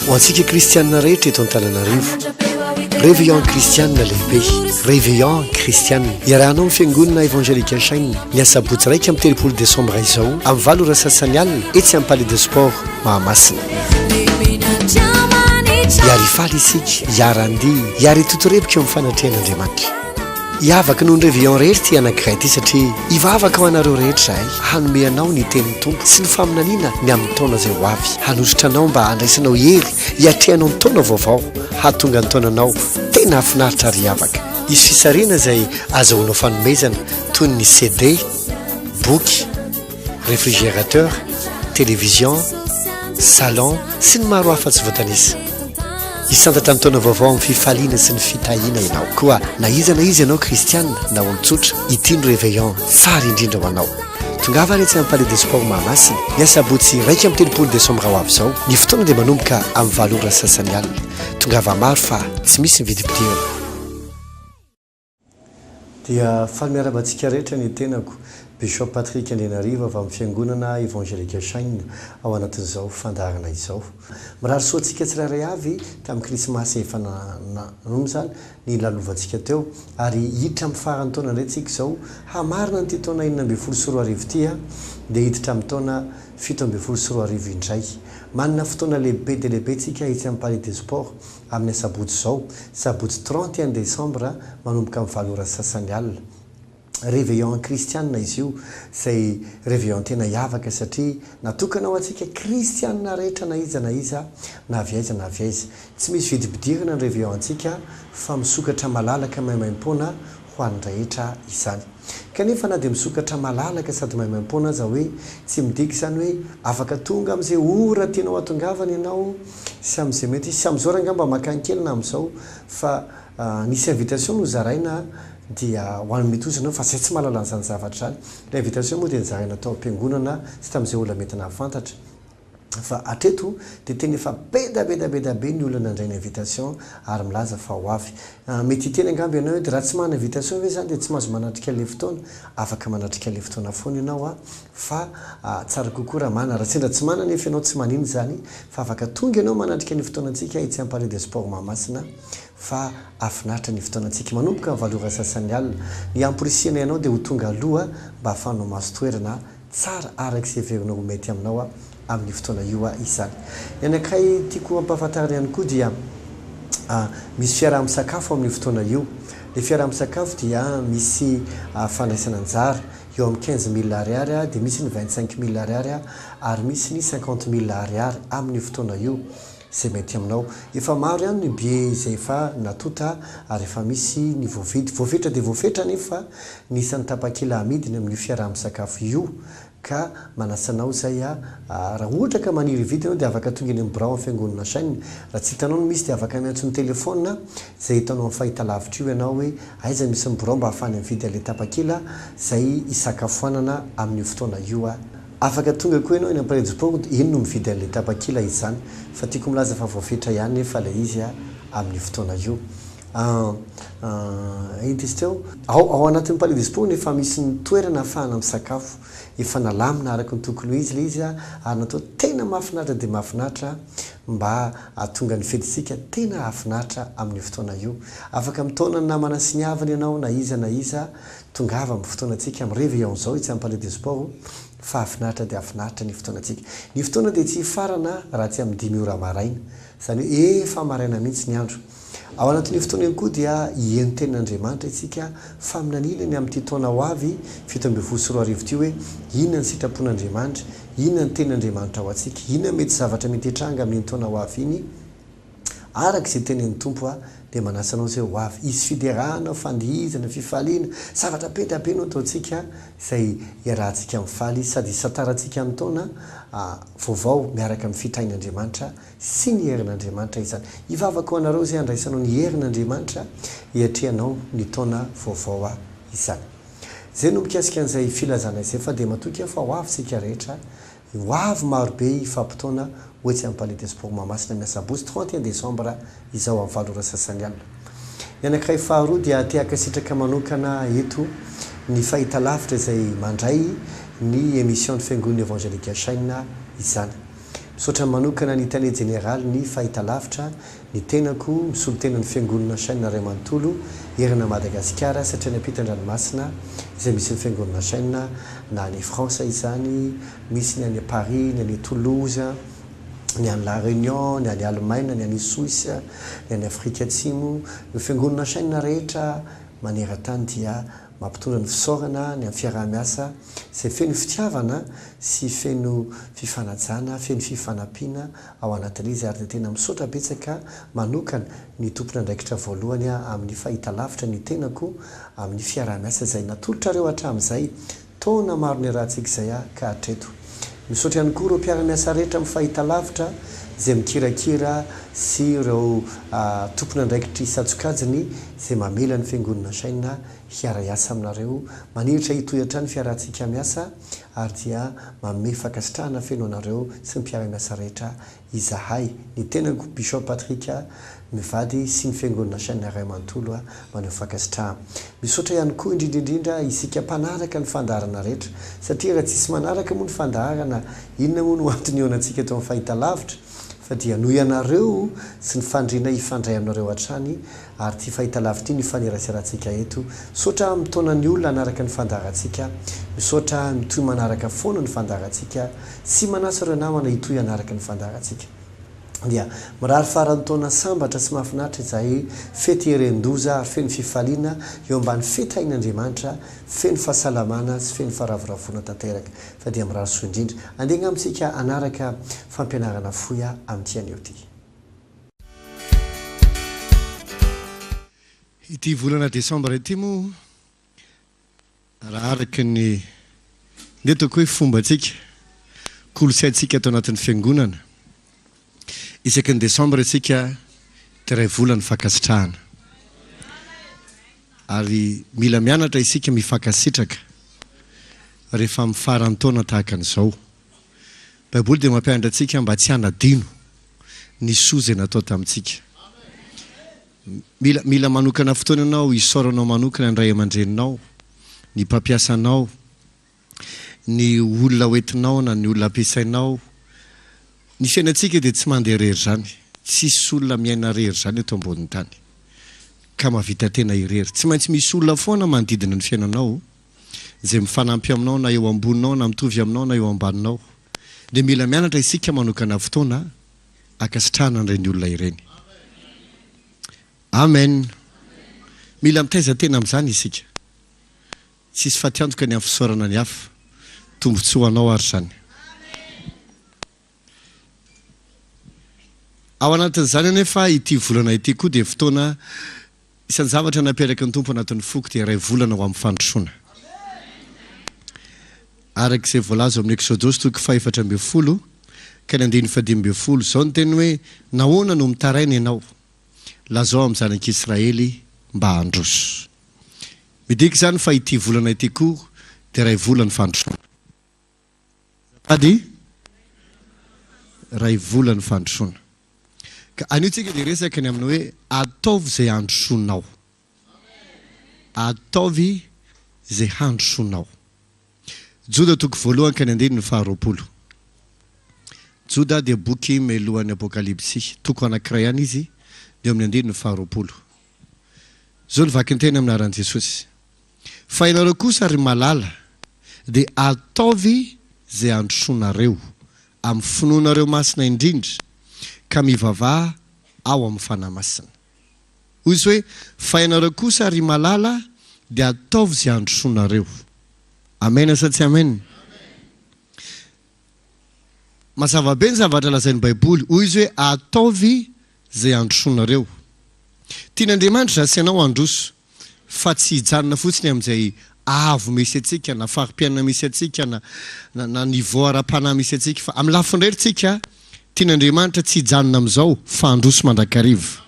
Ho antsika kristianina rehetra eto Antananarivo, Réveillon kristianina lehibe, Réveillon kristianina. Iarahanao ny fiangonana Evangelique Shine ny asabotsy iraika amby telopolo desambra izao amin'ny valo ora sasany alina etsy amin'ny Palais de Sport Mahamasina. Hiary hifaly isika, hiara-handihy, hiary hitotorebika eo amin'ny fanatrehan'Andriamanitra. Hiavaka noho ny Réveillon rery ity anankiray ity satria hivavaka ho anareo rehetra izahay, hanome anao ny tenin'ny Tompo sy ny faminaniana ny amin'ny taona izay ho avy, hanolotra anao mba handraisanao hery hiatrehanao ny taona vaovao, hahatonga ny taonanao tena hahafinaritra ary hiavaka. Hisy fisarihana izay azahoanao fanomezana toy ny CD, boky. réfrigérateur, télévision, salon sy ny maro hafa tsy voatanisa. Hisantatra ny taona vaovao amin'ny fifaliana sy ny fitahiana ianao. Koa na iza na iza ianao kristiana na olon-tsotra, ity ny réveillon tsara indrindra ho anao. Tongava ary etsy amin'ny Palais des Sports Mahamasina ny asabotsy iraika amby telopolo desambra ho avy izao. Ny fotoana dia manomboka amin'ny valo ora sasany alina. Tongava maro fa tsy misy ny vidim-pidirana. Dia faly miarahaba antsika rehetra ny tenako, Bishop Patrick Andrianarivo avy amin'ny Fiangonana Evangelika Shine ao anatin'izao fandaharana izao. Mirary soa antsika tsirairay avy tamin'ny Krismasy efa nanomboka nilalovantsika teo ary hiditra amin'ny faran'ny taona indray tsika izao hamarana an'ity taona enina ambin'ny folo sy roa arivo ity dia hiditra amin'ny taona fito ambin'ny folo sy roa arivo indray. Manana fotoana lehibe dia lehibe tsika etsy amin'ny Palais des Sports amin'ny asabotsy izao, sabotsy trente et un desambra manomboka amin'ny valo ora sy sasany alina. Réveillon an-kristianina izy io, izay réveillon tena hiavaka satria natokana ho antsika kristianina rehetra na iza na iza, na avy aiza na avy aiza. Tsy misy vidim-pidirana ny réveillon-ntsika fa misokatra malalaka maimaim-poana ho an'ny rehetra izany. Kanefa na dia misokatra malalaka sady maimaim-poana aza hoe tsy midika izany hoe afaka tonga amin'izay ora tianao hatongavana ianao sy amin'izay mety hisy. Amin'izao rangahy mba makany kely na amin'izao fa nisy invitation nozaraina dia ho an'ny mety ho izy ianao fa izay tsy mahalala an'izany zavatra izany. Ilay invitation moa dia nozaraina tao am-piangonana sy tamin'izay olona mety nahafantatra. fa hatreto dia tena efa bedabedabeda be ny olona nandray ny invitation ary milaza fa ho avy. Mety hiteny angamba ianao eto, raha tsy manana invitation ve izany dia tsy mahazo manatrika ilay fotoana? Afaka manatrika ilay fotoana foana ianao a! fa tsara kokoa raha manana, raha sendra tsy manana anefa ianao tsy manino izany fa afaka tonga ianao manatrika ny fotoanantsika etsy amin'ny Palais des Sports Mahamasina fa hahafinaritra ny fotoanantsika manomboka ny valo ora sasany alina. Ny hamporisihanay anao dia ho tonga aloha mba hahafahanao mahazo toerana Tsara araka izay heverina ho mety aminao amin' io fotoana io izany. Ny anankiray tiako hampahafantarana ihany koa dia misy fiaraha-misakafo amin' io fotoana io. Ilay fiaraha-misakafo dia misy fandraisana anjara, eo amin'ny quinze mille ariary dia misy ny vingt cinq mille ariary ary misy ny cinquante mille ariary amin' io fotoana io. Zay mety aminao. Efa maro ihany ny billet izay efa natonta ary efa misy ny voavidy. Voafetra dia voafetra anefa fa ny isan'ny tapakila amidiny amin'io fiaraha-misakafo io ka manasa anao izay a raha ohatra ka maniry hividy ianao dia afaka tonga eny amin'ny birao amin'ny fiangonana Hashem. Raha tsy hitanao ny misy dia afaka miantso ny telefaonina izay eto anao amin'ny fahitalavitra io ianao hoe aiza misy ny birao mba hahafahany mividy an'ilay tapakila izay hisakafoanana amin'io fotoana io a. Afaka tonga koa ianao eny Ampirejy Port iny no mividy an'ilay tapakila izany fa tiako milaza fa voafetra ihany nefa ilay izy amin'io fotoana io an ity tsy teo? Ao ao anatin'ny Palais des Sports no efa misy ny toerana ahafahana misakafo. Efa nalamina araka ny tokony ho izy ilay izy ary natao tena mahafinaritra dia mahafinaritra mba hahatonga ny fetintsika tena hahafinaritra amin'io fotoana io. Afaka mitaona ny namana sy ny havana ianao na iza na iza Tongava amin'ny fotoanantsika, mirevy ao izao etsy amin'ny Palais des Sports fahafinaritra dia hafinaritra ny fotoanantsika. Ny fotoana dia tsy hifarana raha tsy amin'ny dimy ora maraina, izany hoe efa maraina mihitsy ny andro. Ao anatin'io fotoana io koa dia hihaino tenin'Andriamanitra isika faminaniana ny amin'ity taona ho avy fito ambin'ny folo sy roa arivo ity hoe inona ny sitrapon'Andriamanitra, inona ny tenin'Andriamanitra ho antsika, inona mety zavatra mety hitranga amin'iny taona ho avy iny. Araka izay tenin'ny Tompo, Aho dia manasa anao izay ho avy hisy fiderana, fandihizana, fifaliana. Zavatra be dia be no ataontsika izay hiarahantsika mifaly sady hisantarantsika ny taona vaovao miaraka amin'ny fitrain'Andriamanitra sy ny herin'Andriamanitra izany. Hivavaka ho anareo izay handraisanao ny herin'Andriamanitra hiatrehanao ny taona vaovao izany. Izay no mikasika an'izay filazana izay fa dia matoky aho fa ho avy isika rehetra Ho avy marobe hifampitaona ho etsy amin'ny Palais des Sports Mahamasina ny asabotsy trente et un desambra izao amin'ny valo ora sasany alina. Ny anankiray faharoa dia te-hankasitraka manokana eto ny Fahitalavitra izay mandray ny Emission-n'ny Fiangonana Evangelika Shina izany. Misaotra manokana ny Tale Jeneralin'ny Fahitalavitra Ny tenako misolo tena ny fiangonana chaine ray manontolo erana Madagasikara satria any ampita andranomasina izay misy ny fiangonana chaine na any France izany misy ny any Paris ny any Toulouse ny any la Réunion ny any Allemagne ny any Suisse ny any Afrika atsimo ny fiangonana chaine rehetra maneratany dia mampitondra ny fisaorana ny am fiarahamiasa izay feno fitiavana sy feno fifanajana feno fifanampiana ao anatin'izy ary dia tena misaotra betsaka manokana ny tompon'andraikitra voalohany amin'ny fahitalavitra ny tenako amin'ny fiaraha-miasa izay natolotrareo hatramin'izay taona maro niarahantsika izay ka hatreto. Misaotra ihany koa ireo mpiara-miasa rehetra amin'ny fahitalavitra izay mikirakira sy ireo tompon'andraikitry isan-tsokajiny izay mamela ny Fiangonana Shine hiara-hiasa aminareo. Maniritra hitohy hatrany ny fiarahantsika miasa. ary dia manome fankasitrahana feno anareo sy ny mpiara-miasa rehetra izahay. Ny tenako, Bishop Patrick, mivady sy ny Fiangonana Shania Ray manontolo maneho fankasitrahana. Misaotra ihany koa indrindra indrindra isika mpanaraka ny fandaharana rehetra, satria raha tsisy manaraka moa ny fandaharana, inona moa no antony ihaonantsika eto amin'ny fahitalavitra, fa dia noho ianareo sy ny fandriana hifandray aminareo hatrany ary ity fahitalavitra ity no ifaneraserantsika eto. Misaotra mitaona ny olona hanaraka ny fandaharantsika. Misaotra mitohy manaraka foana ny fandaharantsika. Tsy manasa ireo namana hitohy hanaraka ny fandaharantsika. Dia mirary faran'ny taona sambatra sy mahafinaritra izahay fety heren-doza ary feno fifaliana eo ambany fety hain'Andriamanitra, feno fahasalamana sy feno faharavoravoana tanteraka. Fa dia mirary soa indrindra. Andeha angamba isika hanaraka fampianarana fohy amin'ity anio ity. Ity volana desambra ity moa raha araka ny ndeha ataoko hoe fombantsika, kolontsaintsika ato anatin'ny fiangonana, isaky ny desambra isika dia iray volany fankasitrahana. Ary mila mianatra isika mifankasitraka rehefa amin'ny faran'ny taona tahaka an'izao. Baiboly dia mampianatra antsika mba tsy hanadino. ny soa izay natao tamintsika. Mila, mila manokana fotoana ianao hisaoranao manokana ny ray aman-dreninao, ny mpampiasa anao, ny olona hoentinao na ny olona ampiasainao. Ny fiainantsika dia tsy mandeha irery izany. Tsisy olona miaina irery izany eto ambonin'ny tany, ka mahavita tena irery. Tsy maintsy misy olona foana manodidina ny fiainanao. izay mifanampy aminao na eo amboninao na mitovy aminao na eo ambaninao dia mila mianatra isika manokana fotoana ankasitrahana an'ireny olona ireny amen mila mitaiza tena amin'izany isika tsisy fatiantoka ny amin'ny fisaorana ny hafa tombotsoa ho anao ary izany Ao anatin'izany anefa ity volana ity koa dia fotoana isan-javatra naperaky ny Tompo anatin'ny foko dia iray volana ho amin'ny fandrosoana. Araka izay voalaza ao amin'ny Eksodosy toko fahefatra ambin'ny folo ka ny andininy fahadimy ambin'ny folo, izao ny teny hoe nahoana no mitaraina ianao? Lazao amin'ny zanak'Israely mba handroso. Midika izany fa ity volana ity koa dia iray volan'ny fandrosoana. Azafady iray vola ny fandrosoana. Ka anio tsika dia resaka ny amin'ny hoe ataovy izay handrosoanao. Ataovy izay handrosoanao. Joda toko voalohany ka ny andininy faha roapolo. Joda dia boky melohan'ny Apokalypsy. Toko anankiray ihany izy dia eo amin'ny andininy faha roapolo. Izao ny vakinteny amin'ny anaran'i Jesosy. Fa ianareo kosa ry malala dia ataovy izay handrosoanareo amin'ny finoanareo masina indrindra ka mivavaha ao amin'ny Fanahy Masina. Hoy Izy hoe, Fa ianareo kosa ry malala dia ataovy izay handrosoanareo. Amena sa tsy amena? Amena. Mazava be ny zavatra lazain'ny Baiboly. Hoy izy hoe, Ataovy izay androsoanareo. Tian'Andriamanitra izaho sy ianao handroso, fa tsy hijanona fotsiny amin'izay avo misy antsika, na fari-piainana misy antsika, na na niveau ara-panahy misy antsika. Fa amin'ny lafiny iray, ry tsika, tian'Andriamanitra tsy hijanona amin'izao, fa handroso mandrakariva.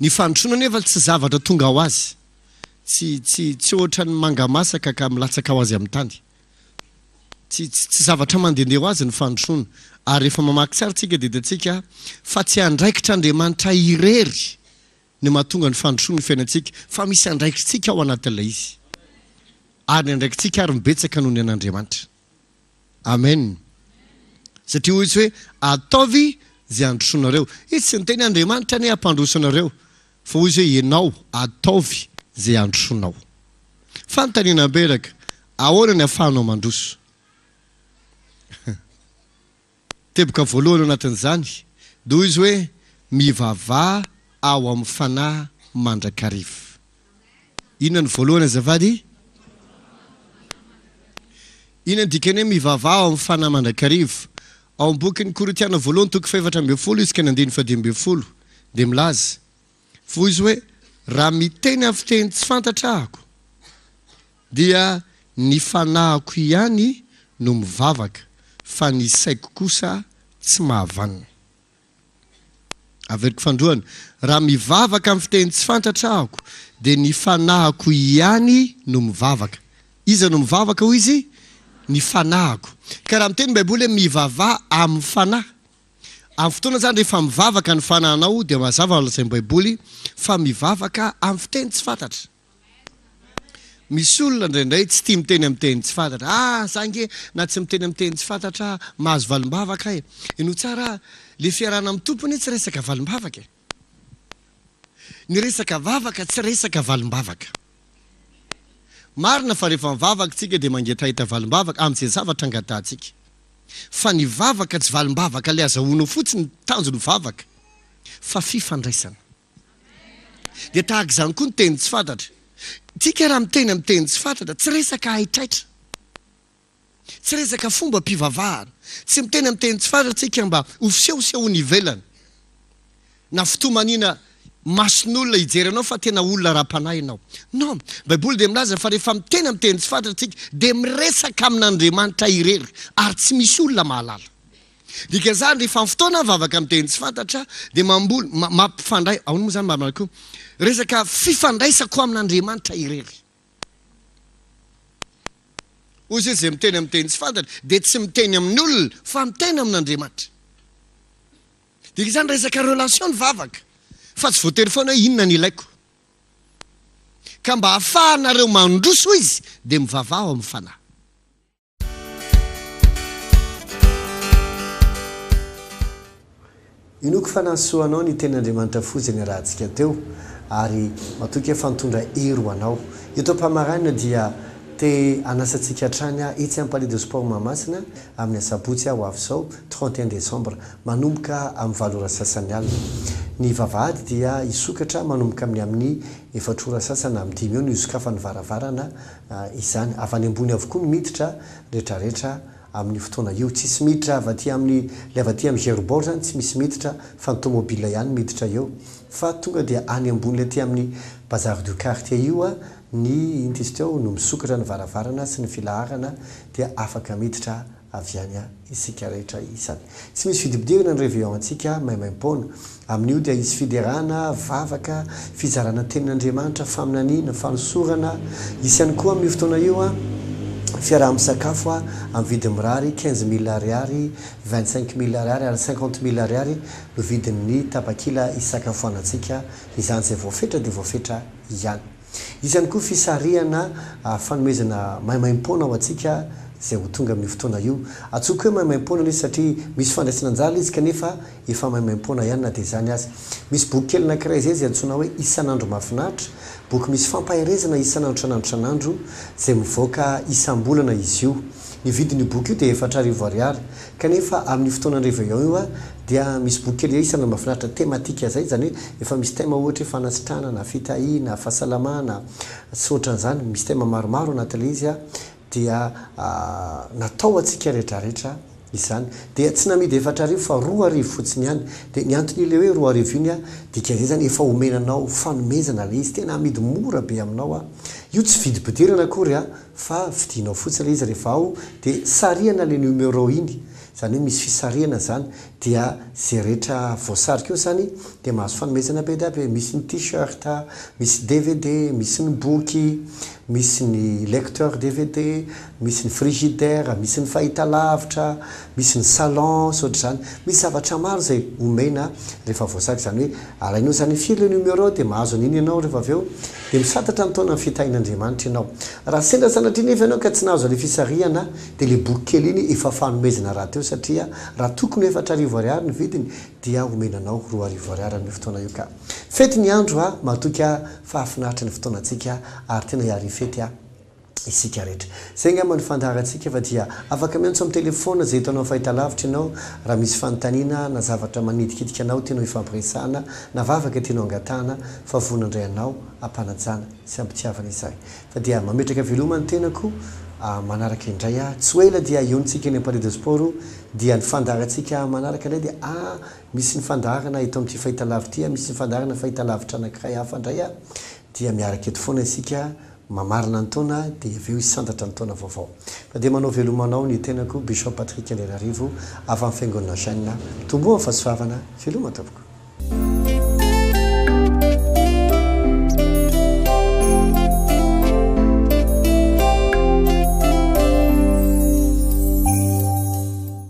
Ny fandrosoana anefa tsy zavatra tonga ho azy. Tsy, tsy, tsy hoatran'ny manga masaka ka milatsaka ho azy amin'ny tany. Tsy tsy zavatra mandehandeha ho azy ny fandrosoana. Ary rehefa mamaky tsara isika dia hitantsika fa tsy andraikitr' Andriamanitra irery ny mahatonga ny fandrosoany ny fiainantsika fa misy andraikitsika ao anatin'ilay izy. Ary ny andraikitsika ary mibetsaka noho ny an' Andriamanitra. Amen. Satria hoy izy hoe ataovy izay handrosoanareo. Izy tsy niteny Andriamanitra anie hampandroso anareo. Fa hoy izay ianao, Ataovy izay androsonao. Fanontaniana mberaka, Ahoana ny ahafahanao mandroso? Teboka voalohany ao anatin'izany noho izy hoe, Mivavaha ao amin'ny fanahy mandrakariva. Inona no voalohany azafady? Inona no dikan'ny hoe mivavaha ao amin'ny fanahy mandrakariva? Ao amin'ny bokin'ny Korintiana voalohany toko fahefatra ambin'ny folo izy ka ny andininy fahadimy ambin'ny folo dia milaza fohy izy hoe raha miteny amin'ny fiteny tsy fantatra ahako dia ny fanahiko ihany no mivavaka fa ny saiko kosa tsy mahavanona. Averiko Fandroana, raha mivavaka amin'ny fiteny tsy fantratra ahako, dia ny fanahiko hiany no mivavaka. Iza no mivavaka hoy izy? Ny fanahiko. Ka raha miteny ny baiboly hoe mivavaha amin'ny fanahy, amin'ny fotoana izany rehefa mivavaka ny fanahinao dia mazava ny lazain'ny baiboly fa mivavaka amin'ny fiteny tsy fantratra. Misy olona indraindray tsy tia miteny amin'ny teny tsy fantatra. Ah, za ange na tsy miteny amin'ny teny tsy fantatra ah, mahazo valim-bavaka aho e. Henoy tsara ah, le fiarahana amin'ny Tompo anie tsy resaka valim-bavaka e. Ny resaka vavaka tsy resaka valim-bavaka. Marina fa rehefa mivavaka tsika dia mangetaheta valim-bavaka amin'izay zavatra angatahantsika. Fa ny vavaka tsy valim-bavaka le azahoanao fotsiny ny tanjon'ny vavaka fa fifandraisana. Dia tahaka izany koa ny teny tsy fantatra. Tsika raha miteny amin'ny teny tsy fantatra, tsy resaka haitraitra. Tsy resaka fombam-pivavahana. Tsy miteny amin'ny teny tsy fantatra tsika mba ho fisehosehoana ivelany. Na fitomaniana mason'olona hijery anao fa tena olona ara-panahy ianao. Non. Baiboly dia milaza fa rehefa miteny amin'ny teny tsy fantatra tsika dia miresaka amin'Andriamanitra irery ary tsy misy olona mahalala. Dikan'izany, rehefa amin'ny fotoana mivavaka amin'ny teny tsy fantatra, dia mamboly, ma, mampifandray, ahoana moa izany marina koa? Resaka fifandraisako amin'Andriamanitra irery. Hoy izy, izay miteny amin'ny teny tsy fantatra dia tsy miteny amin'ny olona fa miteny amin'Andriamanitra. Dikan'izany, resaka relation ny vavaka, fa tsy voatery foana hoe inona no ilaiko. Ka mba hahafahanareo mandroso, hoy izy, dia mivavaha ao amin'ny Fanahy. Inoako fa nahasoa anao ny tenin'Andriamanitra foza niarahantsika teo ary matoky aho fa nitondra hery ho anao. Eto am-pamaranana dia te hanasa antsika hatrany aho etsy amin'ny Palais de Sport Mahamasina amin'ny asabotsy ho avy izao, trente et un décembre, manomboka amin'ny valo ora sasany alina. Ny vavahady dia hisokatra manomboka amin'ny amin'ny efatra ora sasany amin'ny dimy eo no hisokafan'ny varavarana izany. Avy any ambony avokoa ny miditra retraretra amin'io fotoana io. Tsisy miditra avy aty amin'ny, le avy aty amin'ny Gerbord zany tsy misy miditra fa ny tomobile ihany miditra eo. Fa tonga dia any ambony le aty amin'ny Bazar du Quartier io ny inona izy teo no misokatra ny varavarana sy ny filaharana dia afaka miditra avy any isika rehetra isany. Tsy misy vidibodirana ny Réveillon antsika maimaim-poana. Amin'io dia hisy fiderana, vavaka, fizarana tenin'Andriamanitra, faminaniana, fanosorana. Hisy ihany koa amin'io fotoana io fiaraha-misakafo amin'ny vidiny mirary, quinze mille ariary, vingt cinq mille ariary ary cinquante mille ariary no vidin'ny tapakila hisakafoanantsika. Izany izay voafetra dia voafetra ihany. Hisy ihany koa fisarihana fanomezana maimaim-poana ho antsika izay ho tonga amin'io fotoana io. Antsoiko hoe maimaim-poana anie izy satria misy fandraisana anjara izy kanefa efa maimaim-poana ihany na dia izany aza. Misy boky kely anankiray izay izay antsoina hoe Isan'andro mahafinaritra, boky misy fampaherezana isan'andro isan'andro isan'andro izay mivoaka isam-bolana izy io. Ny vidin'io boky io dia efatra arivo ariary. Kanefa amin'io fotoana réveillon io dia misy boky kely isany mahafinaritra thématique izay, izany hoe efa misy thème ohatra hoe fanasitrana na fitahiana, fahasalamana sy ohatran'izany, misy thème maromaro anatin'ilay izy dia natao ho antsika rehetrarehetra izany. Dia tsy namidy efatra arivo fa roa arivo fotsiny ihany. Dia ny anton'ilay hoe roa arivo iny dikan'izay izany efa omena anao fanomezana ilay izy, tena amidy mora be aminao. Io tsy vidim-pidirana akory. fa vidinao fotsiny ilay izy rehefa ao dia sarihana ilay numéro iny izany hoe misy fisarihana izany dia izay rehetra voasarika eo izany dia mahazo fanomezana be dia be, misy ny t-shirt, misy dvd, misy ny boky, misy ny lecteur dvd, misy ny frigidaire, misy ny fahitalavitra, Misy ny salon sy ohatr'izany. Misy zavatra maro izay omena rehefa voasazy. Izany hoe alainao izany firy le numéro dia mahazo an'iny ianao rehefa avy eo dia misantatra ny taonan'ny fitahian'Andriamanitra ianao. Raha sendra sanatria nefa ianao ka tsy nahazo ilay fisarihana dia ilay boky kely iny efa fanomezana rahateo satria raha tokony ho efatra arivo ariary ny vidiny dia omena anao roa arivo ariary amin'io fotoana io ka. Fety ny andro a! Matoky a! Fahafinaritra ny fotoanantsika ary tena hiarifety a! isika rehetra. Izay angamba no fandaharantsika fa dia afaka miantso amin'ny telefaonina izay hitanao fahitalavitra ianao raha misy fanontaniana na zavatra manitikitika anao tianao hifampiresahana na vavaka tianao hangatahana fa vonona handray anao am-panajana sy am-pitiavana izahay fa dia mametraka veloma ny tenako manaraka indray aho tsy ho ela dia hionontsika eny am-palais de sport dia ny fandaharantsika manaraka indray dia ah misy ny fandaharana eto amin'ity fahitalavitra ity ah misy ny fandaharana fahitalavitra anankiray hafa indray ah dia miaraka eto foana isika mamarina ny taona dia avy eo hisantatra ny taona vaovao. Fa dia manao veloma anao ny tenako Bishop Patrick Andrianarivo avy amin'ny Fiangonana Gène. Mitomboa amin'ny fahasoavana, veloma tompoko.